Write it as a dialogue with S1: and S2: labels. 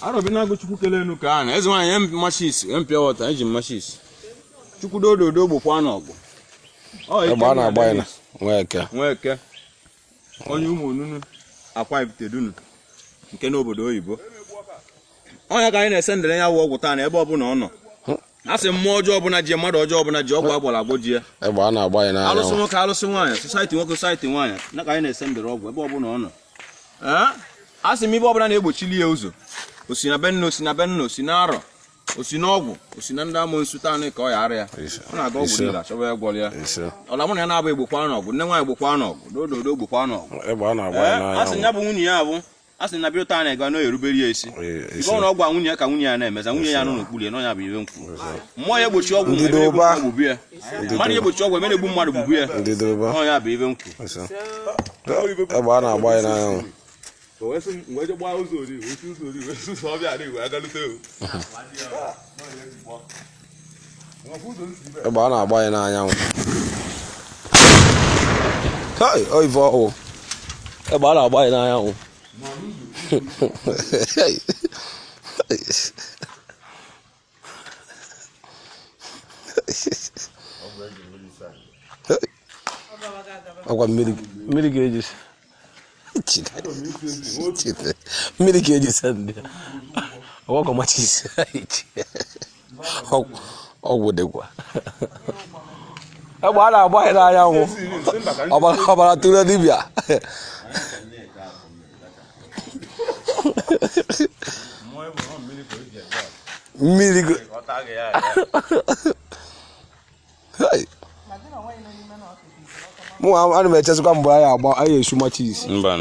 S1: Arọbịnagụ chukwu kele enu kee ana eze nwaanyị em machis em pure water eji m machis chukwu dododo gbokwa na ọgụ Ọ ike
S2: egbe a na-agba ya na Dennis Nweke
S1: onye ụmụ onunu Akwa Ifitedunu nke n'obodo oyibo ọ nya ka anyị na-esendere ya wụ ọgwụ taa na ebe ọbụla ọ nọ asị mmụọ ọjọọ ọbụla ji mmadụ ọjọọ ọbụla ji ọgwụ agwọrọ agwọ ji ya egbe a na-agba ya
S2: n'anya alụsị nwoke alụsị
S1: nwaanyị society nwoke society nwaanyị nya ka anyị na-esendere ọgwụ ebe ọbụla ọ nọ asị m ive ọbụla na-egbochili ya ụzọ osi na be nna osi na be nna osi na arọ osi na ọgwụ osi na ndị amoosu taa ka ọ ya ara ya ọ na-aga ọgwụ niile achọba ya gwọrọ ya ọla mụ na ya na-abụ egbokwa n'ọgwụ nne nwaanyị gbokwa n'ọgwụ dododo gbokwa n'ọgwụ asị ya bụ nwunye ya bụ a sị na bido taa na-aga na-erubere ya isi ive ọbụla ọ gwa nwunye ya ka nwunye ya na-emeza nwunye ya nọ n'okpuru ya n'ọ nya bụ ive m kwu mmụọ ya egbochi ọgwụ gbubu ya mmadụ ya egbochi ọgwụ emere egbu mmadụ gbubu ya n'ọ nya bụ ive m
S2: kwu egbe a na-agba ya n'anyanwụ egbe a na-agba ya n'anyanwụ kai ọ ive ọhụụ egbe a na-agba ya n'anyanwụ agwa mmiri ga-eji mmiri ka eji sende ọgwụ machis ọgwụ dịkwa egbe a na-agba ya n'anyanwụ ọbara tụrụ dibịa mmiri Hey! mụ ana m echezikwa mgbe anyị agba anyị esu machis mbanụ